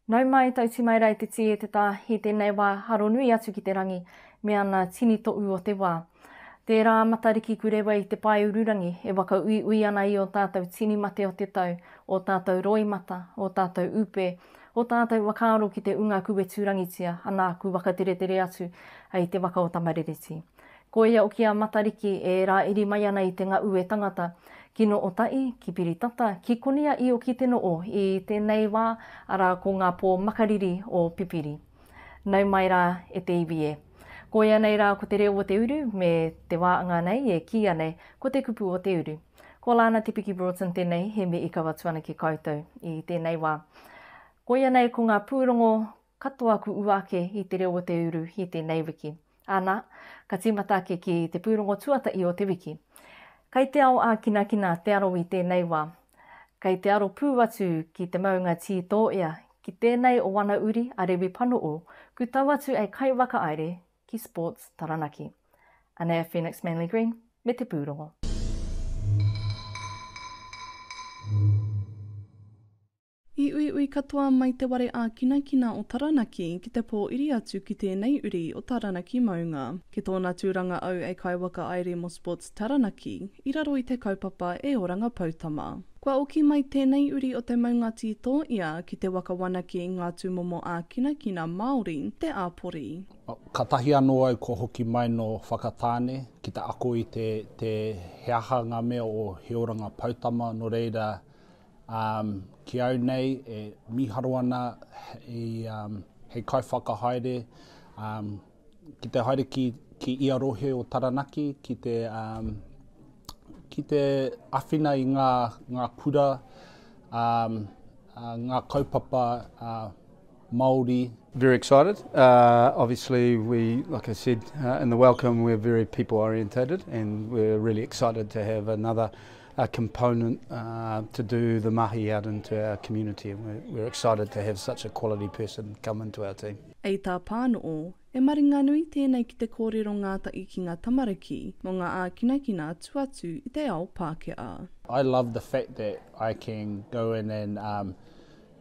Nau mai, tauti mai rā i te tī e te tā, i tēnei wā haro nui atu ki te rangi me ana tini toʻu o te wā. Tērā a Matariki Kurewa i te paeururangi e whakauiui ana i ō tātou tini mate o te tau, ō tātou roimata, ō tātou upe, ō tātou whakaaro ki te unga kuweturangitia anā ku wakateretere atu ai te waka o Tamarereti. Koia hoki a Matariki e rāiri mai ana i te Ngaue tangata, ki Nō Otaʻi, ki Piritata, ki Konia i oki te noo i tēnei wā, arā ko ngā pō makariri o Pipiri. Nau mai rā e te iwi e. Koia nei rā ko te reo o te uru me te wā anga nei e kīia nei ko te kupu o te uru. Ko Lana Te Piki Broughton tēnei he mīikawa tuanake koutou i tēnei wā. Koia nei ko ngā pūrongo Katoa aku ua ake i te reo o te uru i tēnei wiki. Ana, ka tīmata ake ki te pūrongo tuatahi o te wiki. Kai te ao ākinakina te aro i tēnei wā. Kai te aro pū atu ki te maunga Tītōea, ki tēnei o ana uri a Rewi Panoo, ku tau atu e Kai Wakaire ki Sports Taranaki. Anei a Phoenix Manly Green me te pūrongo. I uiui katoa mai te ware ākinakina o Taranaki ki te pō iri atu ki tēnei uri o Taranaki maunga. Ki tōna tūranga au e kaiwaka ai Re Mosports Taranaki i raro i te kaupapa E Oranga Poutama. Kua oki mai tēnei uri o te maunga tītō ia ki te waka wanake i ngā tūmomo ākinakina Māori, te āpori. Katahi anō au kua hoki mai nō Whakatāne ki te ako i te he aha ngā mea o He Oranga Poutama nō reira Um, ki au nei, e miharo ana i, um, hei kaiwhakahaere um, ki te haere ki, ki ia rohe o Taranaki, ki te, um, ki te awhina i ngā, ngā kura, um, uh, ngā kaupapa uh, Māori. Very excited. Obviously, like I said in the welcome, we're very people orientated and we're really excited to have another component to do the mahi out into our community. We're excited to have such a quality person come into our team. Ei tā Pānoo, E maringanui tēnei ki te kōrero ngātahi ki ngā tamariki mō ngā ākinakina atu atu i te ao Pākehā. I love the fact that I can go in and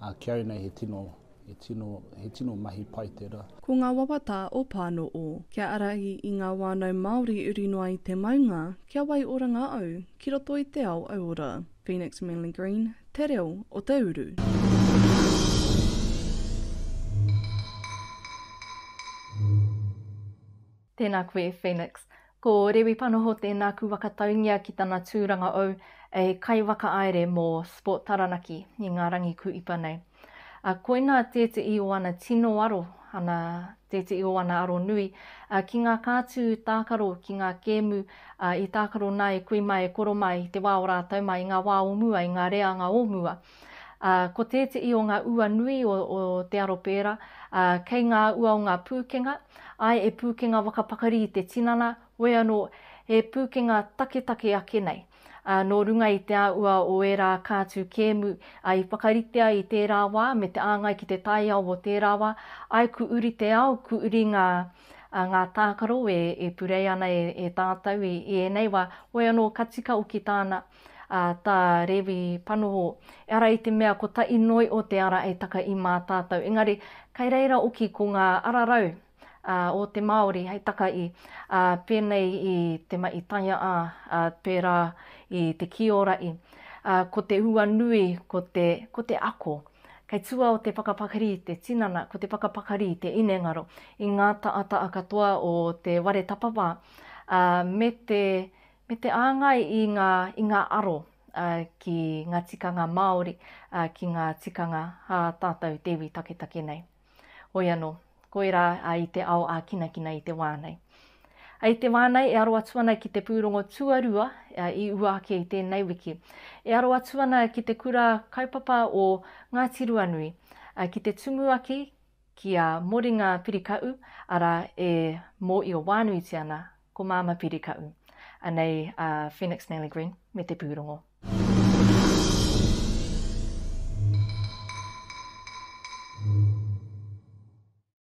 A kiau nei he tino, he tino, he tino mahi pai tera. Ko nga wawata o Pano o. Kia arahi i nga wanau Maori uri noa i te maunga, kia waioranga au ki roto i te ao auora. Phoenix Manly Green, Te Reo o te Uru. Tēnā koe Phoenix. Ko Rewi Panoho tēnā ku wakataungia ki tana tūranga ou hei kaiwakaaere mo Sport Taranaki i nga rangi ku ipa nei. A koina tēteʻi o ana tino aro, ana tēteʻi o ana aro nui, a ki nga kātū tākaro ki nga kēmu a i tākaro nā e kui mai e koro mai i te wā o rātau mai i nga wā o mua i nga reanga o mua. Ā, ko tēteʻi o ngā ua nui o, o te aro pērā, ā, kei ngā ua o ngā pūkenga, āe, e pūkenga whakapakari i te tinana, hoi anō, he pūkenga taketake ake nei, ā, nō runga i te āhua o ērā kātū kēmu, ā, i whakaritea i tērā wā me te āngai ki te taiao o tērā wā, āe, ku uri te ao, ku uri ngā, ā, ngā tākaro e, e purei ana e, e tātou i, i ēnei wā, hoi anō, ka tika hoki tāna. a ta Rewi Panoho, ehara i te mea ko ta inoi o te ara e taka i ma tatou, engari kai reira oki ko nga ara rau a o te Maori hei taka i, a penei i te ma'i taia'a, a pera i te kiora'i, a ko te hua nui ko te, ko te ako. Kai tua o te whakapakari te tinana, ko te whakapakari te inengaro i nga ta'ata'a katoa o te ware tapawha, a me te Me te āngai i ngā, i ngā aro ki ngā tikanga Māori, ki ngā tikanga ā tātou te iwi taketake nei. Hoi anō, koirā i te ao ākinakina i te wā nei. I te wā nei e aro atu ana ki te pūrongo tuarua i ua ake i tēnei wiki. E aro atu ana ki te kura kaupapa o Ngāti Ruanui, ki te tumuaki Ki a Moringa Pirikaʻu, arā, e mōʻio wānuitia ana ko Māmā Pirikaʻu, anei a Phoenix Manley Green me te pūrongo.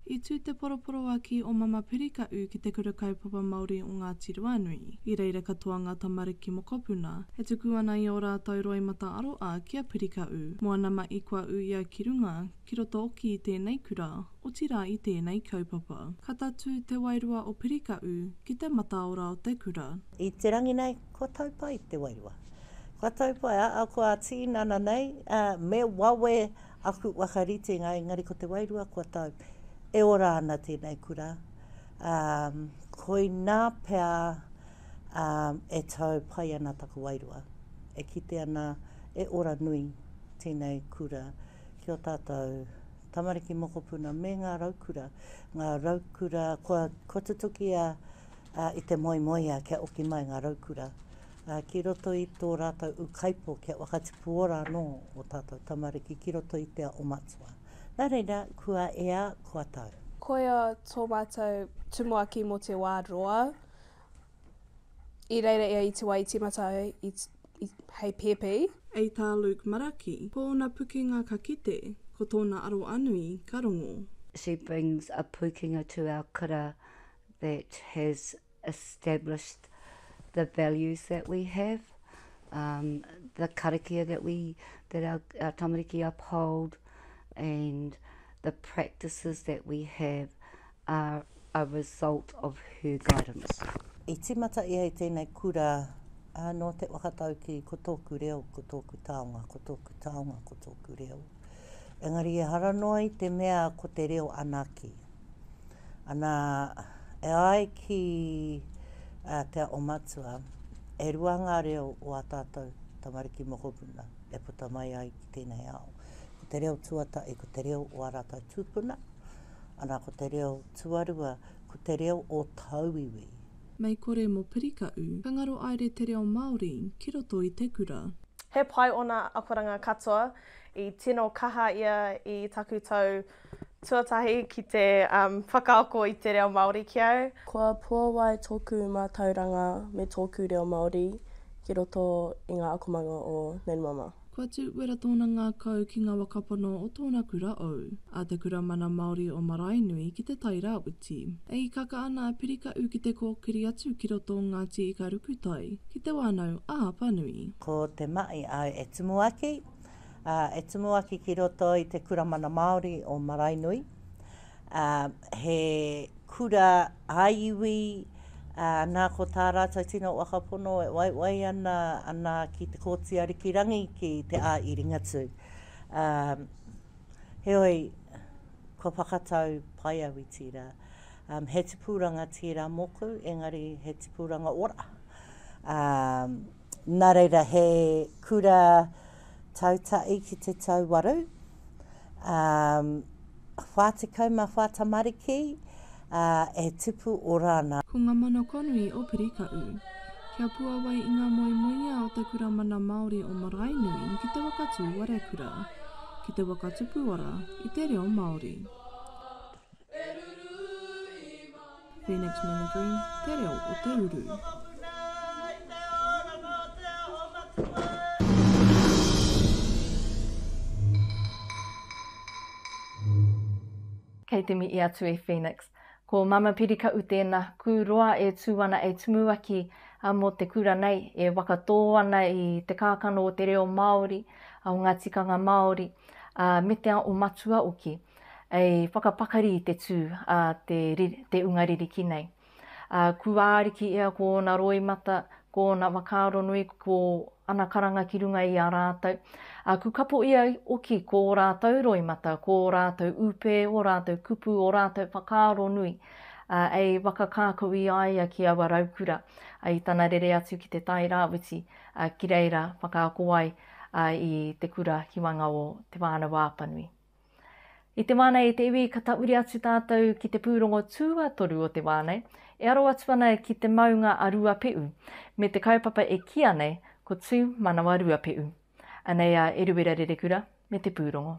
I tū te poroporoaki o Mama Pirikaʻu ki te Kura Kaupapa Māori o Ngāti Ruanui. I reira katoa ngā tamariki mokopuna, e tuku ana i ō rātou roimata aroā ki a Pirikaʻu. Moana Maʻi kua ūia ki runga, ki roto ki tēnei kura, otirā i tēnei kaupapa. Ka tatū te wairua o Pirikaʻu ki te mataora o te kura. I te rangi nei, kua tau pai te wairua. Kua tau pai, ahakoa tīnana nei, ā, me wawe aku whakaritenga, engari ko te wairua kua tau. E ora ana tēnei kura, ā, koinā pea, ā, e tau pai ana taku wairua. E kite ana, e ora nui tēnei kura ki ō tātou tamariki mokopuna me ngā raukura, ngā raukura kua, kua tutukia i te moemoeā kia oki mai ngā raukura ki roto i tō rātou ūkaipō kia whakatipu ora anō ō tātou tamariki ki roto i te ao matua. Nā reira, kua ea, kua tau. Koia tō mātou tumuaki mō te wā roa, I reira ia i te wā i tīmata ai i, i, hei pēpi. A tā Luke Maraki, ko ōna pukenga ka kite, ko tōna aroanui ka rongo. She brings a pukenga to our kura that has established the values that we have, um, the karakia that we, that our, our tamariki uphold and the practices that we have. are a result of her guidance. I tīmata ia i tēnei kura nō te whakataukī ko tōku reo, ko tōku taonga, ko tōku taonga, ko tōku reo. Engari ehara noa i te mea ko te reo anake. Ana, e ai ki Te Ao Matua, e rua ngā reo o ā tātou tamariki mokopuna e puta mai ai ki tēnei ao. Ko te reo tuatahi ko te reo o ā rātou tūpuna, Ana ko te reo tuarua ko te reo o tauiwi. Mei kore mo pirikaʻu. Ka ngaro aere te reo Maori ki roto i te kura. He pai ona akoranga katoa, i tino kaha ia i taku tau tuatahi ki te whakaako i te reo Maori ki au. Kua puawai toku matauranga me toku reo Maori ki roto i nga akomanga o Nanumama. Kua tū uera tōna ngākau ki ngā waka pono o tōna kura ou, a Te Kura Mana Māori o Maraenui ki Te Tai Rāwhiti. E hikaka ana a Pirikaʻu ki te kōkiri atu ki roto o Ngāti Ikarukutai, ki Te Wānau a Apanui. Ko te maʻi au e Tumuaki, ā, e Tumuaki ki roto i Te Kura Mana Māori o Maraenui. ā, he kura ā-iwi, ā, nā ko tā rātou tino waka pono e waiwai ana, ana ki Te Kooti Arikirangi ki Te Ā-iringatū. Ā, heoi, kua whakatau pai au i tērā. Ā, he tipuranga tērā mōku, engari he tipuranga ora. Ā. Nā reira, he kura tautaʻi ki te tau waru, ā, 44 tamariki, ā, e tupu ora ana. Ko ngā mana kua nui o Pirikaʻu. Kia puawai i ngā moemoeā o te Kura Mana Māori o Maraenui ki te waka tūwarekura, ki te waka tupuora i te reo Māori. Phoenix Mimicry, Te Reo o te Uru. Kei te mihi atu e Phoenix. Ko Mama Pirikaʻu tēnā, kū roa e tū ana e Tumuaki mō te kura nei, e wakatō ana i te kākano o te reo Māori, o ngā tikanga Māori, ā, me te ao matua hoki. e whakapakari i te tū a te, te unga ririki nei. A, kuāriki ia ko ōna roimata, ko ōna whakaaro nui, ko ana karanga ki runga i a rātou. A, kukapo ia oki ko ō rātou roimata, ko ō rātou ūpē, ō rātou kupu, ō rātou whakaaro nui, a, e whakakākau i a ia ki aua raukura, a, i tana rere atu ki te Tai Rāwhiti, a, ki reira whakaako ai a, i te kura ki waenga o Te Whānau-a-Apanui. I te wā nei i te iwi ka tahuri atu tātou ki te pūrongo tuatoru o te wā nei, e aro atu ana ki te maunga a Ruape'u, me te kaupapa e kīa nei ko Tū Manawa Ruape'u. Anei a Eruera Rerekura me te pūrongo.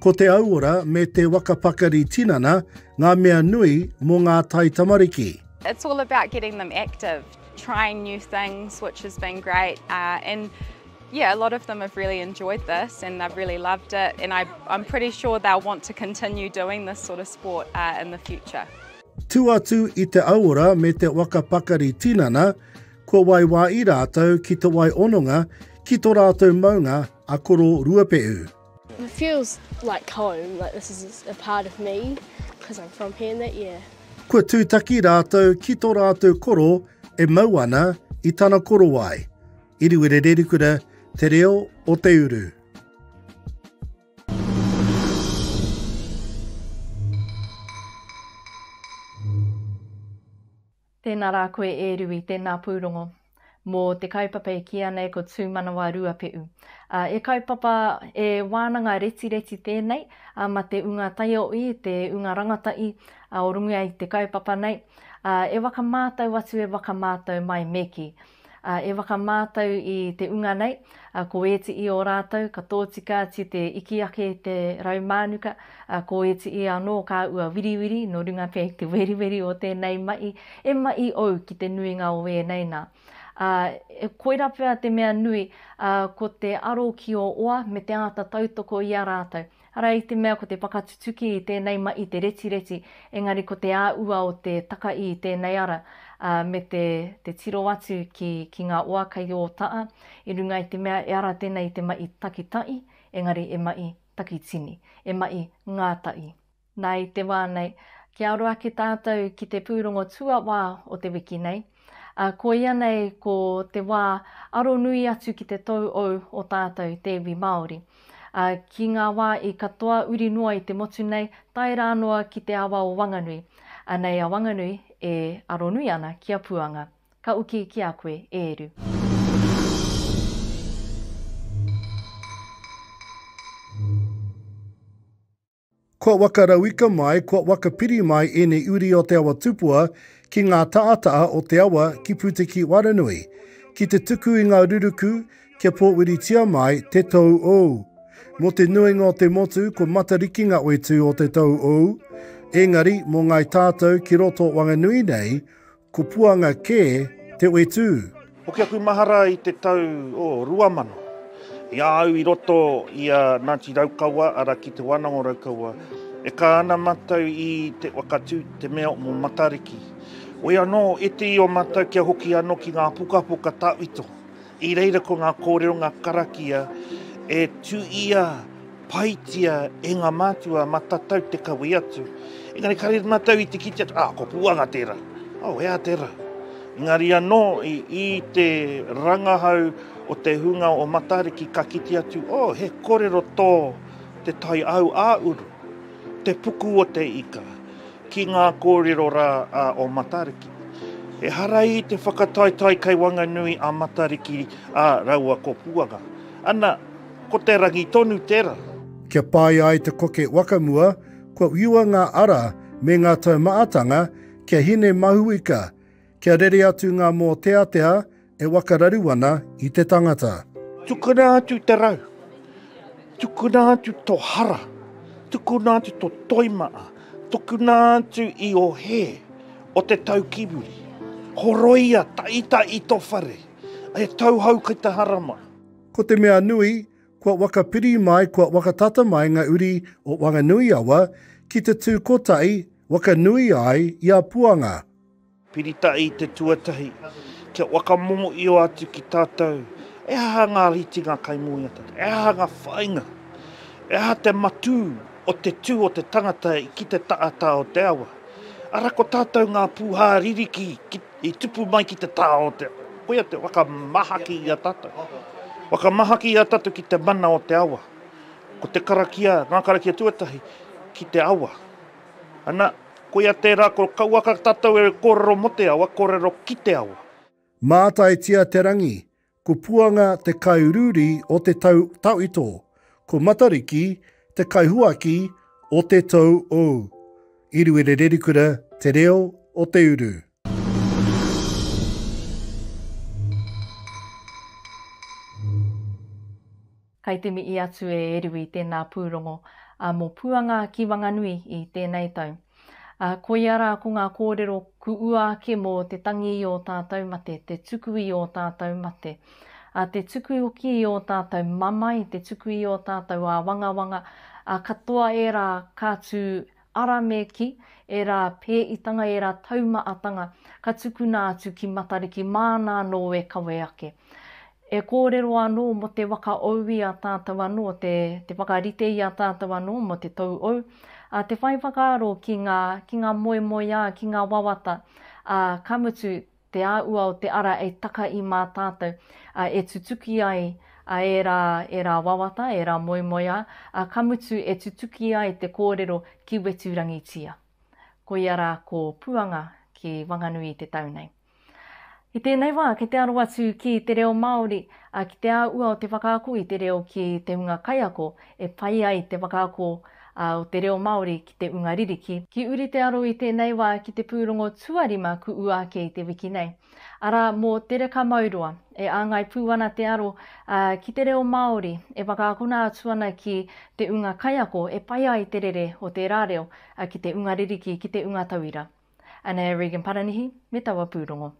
Ko te auora me te waka pakari tinana ngā mea nui mō ngā taitamariki. It's all about getting them active, trying new things which has been great uh, and yeah, a lot of them have really enjoyed this and they've really loved it and I, I'm pretty sure they'll want to continue doing this sort of sport uh, in the future. Tū atu i te auora me te waka pakari tinana, kua waiwā i rātou ki te wai ononga ki tō rātou maunga a Koro Ruapehu. It feels like home, like this is a part of me, because I'm from here and that, yeah. Kua tūtaki rātou ki tō rātou koro e mau ana i tana korowai. Iriwere Rerikura, Te Reo o Te Uru. Tēnā rā koe e Rui, tēnā pūrongo. Mō te kaupapa e kīia nei ko Tūmanawa Ruapeʻu. He kaupapa, he wānanga retireti tēnei a Mate Unga Taioʻi, te unga rangataʻi o runga i te kaupapa nei. E waka mātau atu e waka mātau mai me kī. e whakamātau i te unga nei, ko ētiī o rātou ka tōtika atu te iki ake i te rau mānuka, ko ētiī anō ka ua wiriwiri nō runga pea i te weriweri o tēnei mahi, e mahi ou ki te nuinga o ēnei nā. Ā, koirā pea te mea nui, ko te aro ki ō oa me te āta tautoko i a rātou, Arā i te mea ko te whakatutuki i tēnei ma i te retireti, engari ko te āua o te taka i tēnei ara, ā, me te, te tiro atu ki, ki ngā oa kei ō taa, i runga i te mea e ara tēnei i te ma i takitaʻi, engari e ma i takitini, e ma i ngātaʻi. Nā i te wā nei, kia aro ake tātou ki te pūrongo tuawā o te wiki nei, Ā, koia nei ko te wā aro nui atu ki te tou ou o tātou te iwi Māori. Ā, ki ngā wā i katoa uri noa i te motu nei, tae rā noa ki te awa o Wanganui, anei a Wanganui e aro nui ana ki a Puanga. Ka uki ki a koe, e Eru. Kua wakarauika mai, kua wakapiri mai ēnei uri o te awa tupua ki ngā taataa o te awa ki Puteki-waranui, ki te tuku i ngā ruruku kia pōwiritia mai te tou ou. Mō te nuinga o te motu ko Matariki nga oitu o te tou ou, engari mō ngai tātou ki roto o Wanganui nei, Ko Puanga kē te whetū. Hoki aku mahara i te tau o rua mano, i a au i roto i a Ngāti Raukawa, arā, ki Te Wānanga o Raukawa, e kā ana mātou i te whakatū te mea mō Matariki. Wei anō, iti i o mātou kia hoki anō ki ngā pukapuka tawhito, I reira ko ngā kōrero, ngā karakia e tū ia paitia e ngā mātua ma tatau te kawe atu. Engari ka rere matou i te kite atu, ah, ko Puanga tera, oh, ea tera. Engari anō i, i te rangahau o te hunga o Matariki ka kite atu, oh, he korero tō te tai au a uru. Te puku o te ika, ki ngā kōrero rā a o Matariki. Ehara i te whakataetae kei Wanganui a Matariki a raua ko Puanga. Ana, ko te rangi tonu tera. Kia pai ai te koke wakamua, kua whiua ngā ara me ngā taumaatanga kia hine mahuika, Kia rere atu ngā mōteatea e wakararu ana i te tangata. Tukuna atu te rau. Tukuna atu to hara. Tukuna atu to toimaa. Tukuna atu i o he o te tau ki muri. Horoia ta ita i to whare. E tauhou kai te harama. Ko te mea nui, kua wakapiri mai, kua wakatata mai nga uri o Wanganui-a-wa ki te tu kotahi wakanui ai i a Puanga. Pirita I te tuatahi, kia whakamōio atu ki tātou he aha ngā ritinga kai muri a tātou, he aha ngā whāinga, he aha te matū o te tū o te tangata ki te tātā o te awa. Arā ko tātou ngā pūhā ririki i tupu mai ki te tā o te awa. Koia te whakamahaki i a tātou. Whakamahaki i a tātou ki te mana o te awa. Ko te karakia, ngā karakia tuatahi, ki te awa. Ana, koia tērā kua kauaka tātou e kōrero mō te awa, kōrero ki te awa. Mātaitia te rangi, ko Puanga te kairūri o te tau tawhito, ko Matariki te kaihuaki o te tou ou. I Ruere Rerikura te reo o te uru. Kai te mihi atu e Eru i tēnā pūrongo mō Puanga ki Wanganui i tēnei tau. Koia rā ko ngā kōrero ku ua ake mō te tangi i ō tātou mate, te tuku i ō tātou mate, te tuku hoki i ō tātou mamae, te tuku i ō tātou āwangawanga, katoa ērā ka tū Aramēki, ērā pēitanga, ērā taumaatanga ka tukuna atu ki Matariki māna anō e kawe ake. E kōrero anō mō te waka ou i a tātou anō, te, te whakarite i a tātou anō mō te tou ou, ā, te whai whakaaro ki ngā, ki ngā moemoeā, ki ngā wawata, ā, ka mutu, te āhua o te ara e taka i mā tātou, ā, e tutuki ai ērā, ērā wawata, ērā moemoeā, ā, ka mutu e tutuki ai te kōrero ki Weturangitia. Koia rā ko Puanga ki Wanganui i te tau nei. I tēnei wā, kei te aro atu ki te reo Māori, ā, ki te āhua o te whakaako i te reo ki te hunga kaiako e pai ai te whakaako o te reo Māori ki te unga ririki. Ki uri te aro i tēnei wā ki te pūrongo tuarima kuʻu ake i te wiki nei. Arā, mō Te Reka Mauroa, e āngai pū ana te aro ki te reo Māori e whakaakona atu ana ki te unga kaiako e pai ai te rere o tērā reo ki te unga ririki, ki te unga tauira. Anei a Regan Paranihi me taua pūrongo.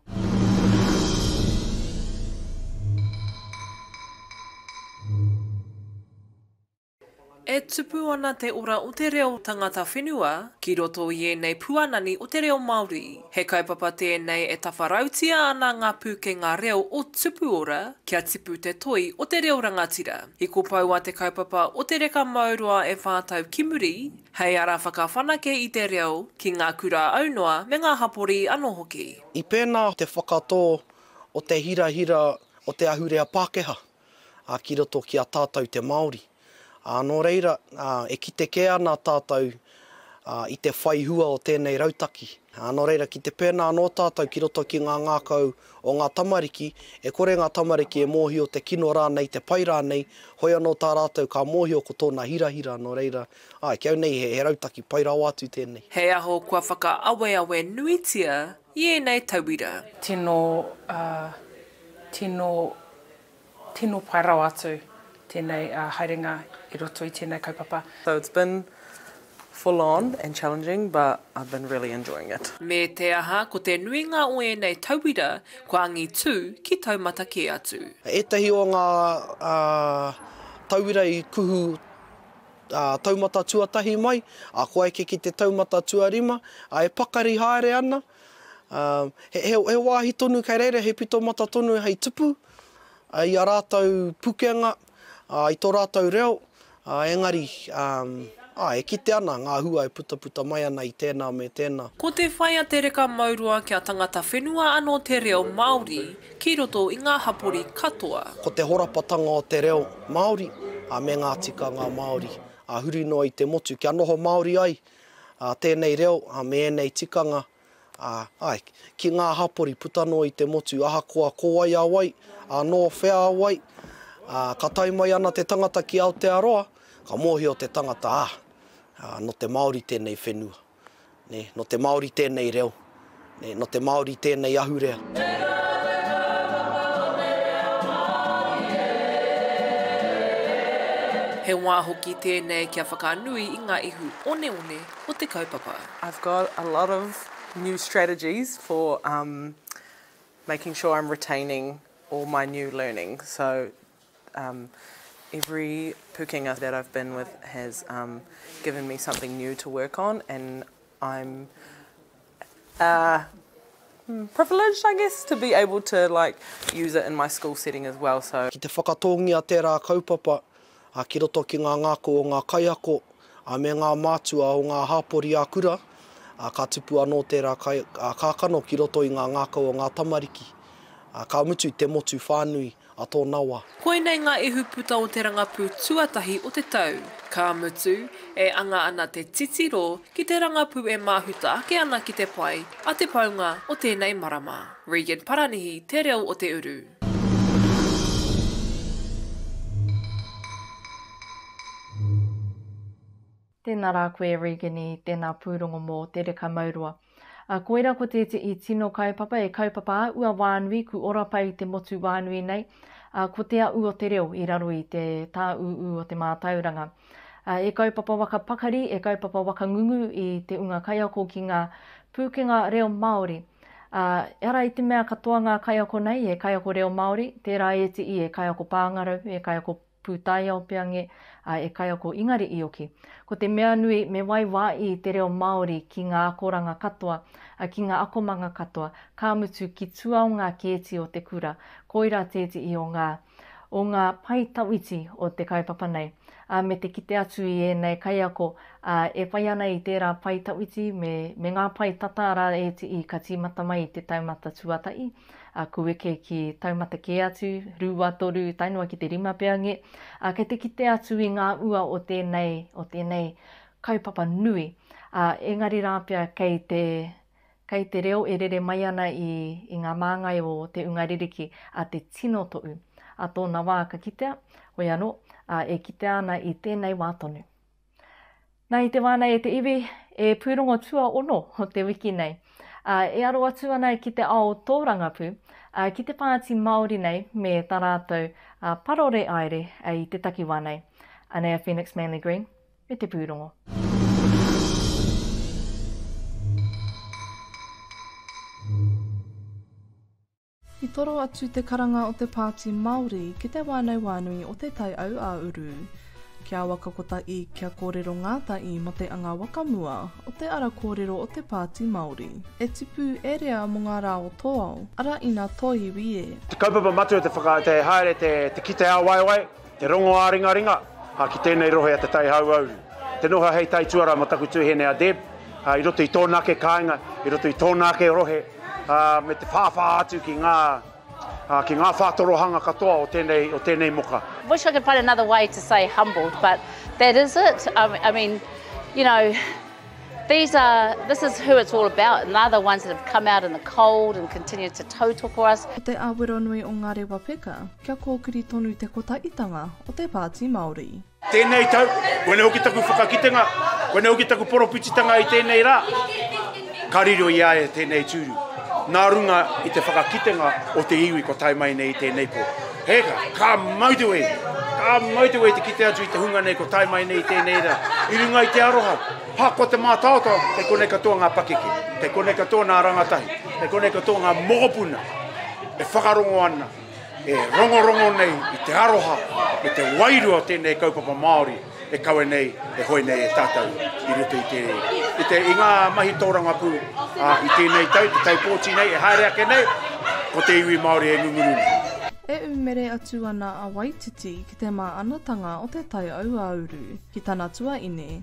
E tupu ana te ora o te reo tangata whenua ki roto i ēnei puanani o te reo Māori. He kaupapa tēnei e tawharautia ana ngā pūkenga reo o Tupuora kia tipu te toi o te reo rangatira. I kopou a te kaupapa o Te Reka Mauroa e whā tau ki muri, Hei ara whakawhanake i te reo ki ngā kura aunoa me ngā hapori anō hoki. I pēnā te whakatō o te hirahira o te ahurea Pākehā ki roto ki a tātou te Māori. Nō reira, e kite kē ana tātou i te whai hua o tēnei rautaki. Nō reira, ki te pēnā anō tātou ki roto ki ngā ngākau o ngā tamariki, e kore ngā tamariki e mōhio te kino rānei, te pai rānei, hoi anō tā rātou ka mōhio ko tōna hirahira, nō reira, āe, ki au nei he rautaki pai rawa atu tēnei. He aho kua whakaaweawe nuitia i ēnei tauira. Tino, uh, tino. Tino pai rawa atu tenei haerenga i roto i tenei kaupapa. So it's been full on and challenging but I've been really enjoying it. Me te aha, ko te nuinga o ēnei tauira kua angitū ki taumata kē atu. Ētahi o ngā tauira i kuhu taumata tuatahi mai, kua eke ki te taumata tuarima, e pakari haere ana. He wāhi tonu kei reira he pito mata tonu hei tupu i a rātou pukenga, i tō rātou reo, engari e kite ana ngā hua e putaputa mai ana i tēnā me tēnā. Ko te whai a te reka mauroa kia tangata whenua anō te reo Māori ki roto i ngā hapori katoa. Ko te horapatanga o te reo Māori me ngā tikanga Māori huri noa i te motu kia noho Māori ai tēnei reo me ēnei tikanga, āe, ki ngā hapori puta noa i te motu, ahakoa ko wai a wai, nō whea a wai, ka tae mai ana te tangata ki Aotearoa, ka mōhio te tangata, ā, nō te Māori tēnei whenua, nō te Māori tēnei reo, Nē, nō te Māori tēnei ahurea. Te Rāwhe Kaupapa o te Reo Māori e! He wā hoki tēnei kia whakanui i ngā ihu oneone o te kaupapa. I've got a lot of new strategies for um making sure I'm retaining all my new learning so um every pukenga that I've been with has um given me something new to work on and I'm privilege I guess to be able to like use it in my school setting as well so. Ki te whakatōngia tērā kaupapa ki roto ki ngā ngākau o ngā kaiako me ngā mātua o ngā hāpori ā-kura, ka tupu anō tērā kākano ki roto i ngā ngākau o ngā tamariki, ka mutu te motu whānui a tō nawa. Koinei ngā ihuputa o te rangapū tuatahi o te tau. Ka mutu, e anga ana te titiro ki te rangapū e māhuta ake ana ki te pai a te paunga o tēnei marama. Regan Paranihi Te Reo o te Uru. Tēnā rā koe e Regini, tēnā pūrongo mō Te Reka Mauroa. A, koira ko tēteʻi tino kaupapa e kaupapa a ua wānui ku ora pai i te motu wānui nei, a, ko te aʻu o te reo i raro i te tāūū o te mātauranga. A, e kaupapa waka pakari, e kaupapa waka ngungu i te unga kaiako ki ngā pūkenga reo Māori. A, ara i te mea katoa ngā kaiako nei e kaiako reo Māori, tērā ēteʻi e kaiako pāngarau, e kaiako. Pūtaiao Peange, ā, e kaiako Ingari Ioki. Ko te mea nui, me waiwāi te reo Māori ki ngā akoranga katoa, ā, ki ngā akomanga katoa, ka mutu ki tua o ngā kēti o te kura, koirā tētehi o ngā, o ngā pae tawhiti o te kaupapa nei. Ā, me te kite atu i ēnei kaiako, ā, e whai ana i tērā pae tawhiti me, me ngā pae tata rā ētehi ka tīmata mai i te taumata tuatahi, a ku eke ki taumata kē atu, rua, toru, tae noa ki te rima pea nge, a kei te kite atu i ngā ua o tēnei, o tēnei kaupapa nui, a engari rā pea kei te, kei te reo e rere mai ana i, i ngā māngai o te unga ririki, a te tino toʻu, a tōna wā ka kitea, hoi anō, a e kitea ana i tēnei wā tonu. Na i te wā nei e te iwi, e pūrongo tuaono o te wiki nei, ā, e aro atu ana ki te ao tōrangapū, ā, ki te pāti Māori nei me tā rātou parore aere i te takiwā nei. Anei a Phoenix Manly Green me te pūrongo. I toro atu te karanga o te Pāti Māori ki te wānau wānui o Te Tai Aua-uru, ki a Waka Kotahi kia kōrero ngātahi mō te anga whakamua o te ara kōrero o te Pāti Māori e tipu e rea mō ngā rā o tō ao, arā ina tōiwi e. Te kaupapa matua te whaka, te haere te kite ā-waewae. Te rongo ā-ringaringa, ā, ki tēnei rohe a Te Tai Hauauru. Te noho hei tai tuarā mō taku tūhene a Deb, ā, i roto i tōna ake kāinga, i roto i tōna ake rohe, ā, me te whāwhā atu ki ngā, ā, ki ngā whātorohanga katoa o tēnei, o tēnei moka. Wish I could find another way to say humbled, but that is it. Um, I mean, you know, these are, this is who it's all about, and they're the ones that have come out in the cold and continued to tautoko us. Ko te Aweronui o Ngārewa Peka. Kia kōkiri tonu te kotaitanga o te Pāti Māori. Tēnei tau, koinei hoki taku whakakitenga, koinei hoki taku poropititanga i tēnei rā, ka riro i a ia tēnei tūru, nā runga i te whakakitenga o te iwi kua tae mai nei i tēnei pō. Heka, ka motorway, ka motorway te kite atu i te hunga nei kua tae mai nei i tēnei rā, i runga i te aroha, ha, ko te mātaotao, kei konei katoa ngā pakeke, kei konei katoa nā rangatahi, kei konei katoa ngā mokopuna e whakarongo ana. e rongorongo nei i te aroha me te wairua o tēnei kaupapa Māori e kawe nei, e hoe nei e tātou i roto i te, i te, i ngā mahi tōrangapū a, i tēnei tau, te tau pōti nei, e haere ake nei, ko te iwi Māori e ngunguru nei. E umere atu ana a Waititi ki te māanatanga o te taiauauru ki tana tuaine,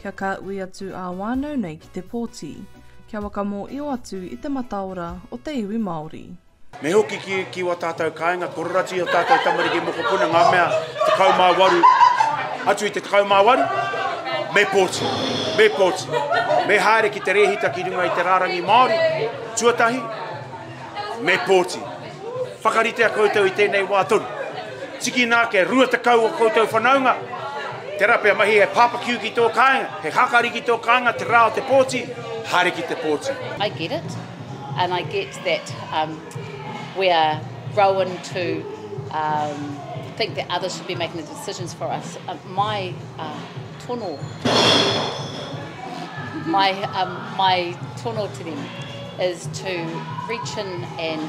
Kia ka ui atu ā wānau nei ki te pōti. Kia wakamōio atu i te mataora o te iwi Māori. Me hoki ki, ki wā tātou kāinga, kororati i ō tātou tamariki mokopuna, ngā mea 18 atu i te 18, me pōti, me pōti, me haere ki te rēhita ki runga i te rārangi Māori, tuatahi, me pōti. Whakaritea koutou i tēnei wā tonu. Tikina ake, rua tekau o koutou whanaunga, tērā pea mahi he barbecue ki tō kāinga, he hakari ki tō kāinga, te rā o te pōti, haere ki te pōti. I get it, and I get that um, we are grown to um, think that others should be making the decisions for us. Uh, my uh, tono my um, my tono to them is to reach in and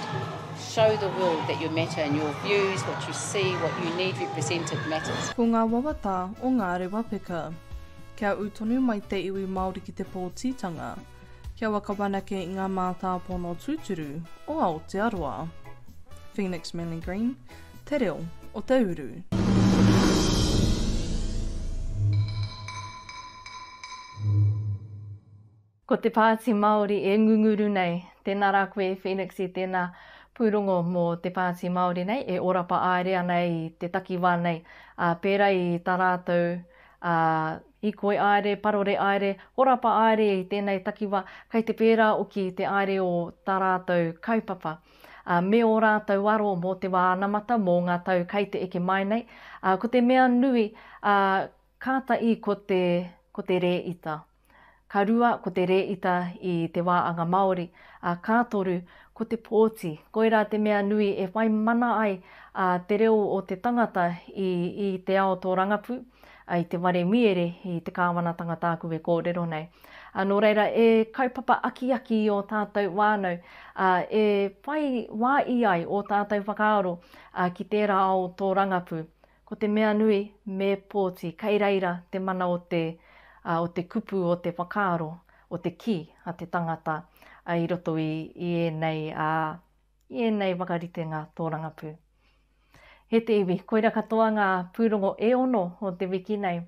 show the world that you matter and your views, what you see, what you need represented matters. Ko ngā wawata o ngā rewa peka. Kia ū tonu mai te iwi Māori ki te pōtitanga. Kia waka whanake i ngā mātāpono tūturu o Aotearoa. Phoenix Manly Green, Te Reo o te Uru. Ko te Pāti Māori e ngunguru nei. Tēnā rā koe Phoenix i tēnā pūrongo mō te Pāti Māori nei e orapa aere ana i te takiwā nei, ā, pērā i tā rātou Hīkoi aere, parore aere, horapa aere i tēnei takiwa, kei te pērā oki te aere o tā rātou kaupapa, ā, me ō rātou aro mō te wā anamata, mō ngā tau kei te eke mai nei, ā, ko te mea nui, ā, kāta i ko te, ko te rēita. Ka rua, ko te rēita i te wā anga Māori, ā, ka toru, ko te pōti. Koirā te mea nui e whai mana ai, ā, te reo o te tangata i, i te ao tōrangapū, I te ware miere i te kāwanatanga tāku e kōrero nei. Nō reira, e kaupapa akiaki i ō tātou whānau, ā, e whai wā i ai ō tātou whakaaro ki tērā ao tōrangapū. Ko te mea nui, me pōti, kei reira te mana o te, o te kupu, o te whakaaro, o te kī a te tangata i roto i ēnei, ā, i ēnei whakaritenga tōrangapū. He te iwi, koira katoa ngā pūrongo e ono o te wiki nei.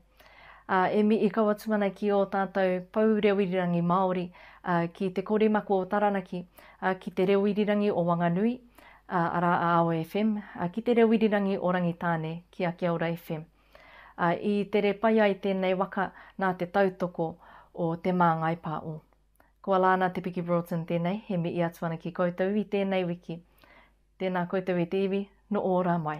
Ā, e mihi kau atu ana ki ō tātou pou reo irirangi Māori, ā, ki Te Koremako o Taranaki, ā, ki Te Reo Irirangi o Wanganui, ā, arā a Ao FM, ā, ki Te Reo Irirangi o Rangitāne, ki a Kia Ora FM. Ā, i tere pai ai tēnei waka nā te tautoko o Te Māngai Pāo. Ko Alana Te Piki Broughton tēnei, he mihi atu ana ki koutou i tēnei wiki. Tēnā koutou e te iwi, nō ō rā mai.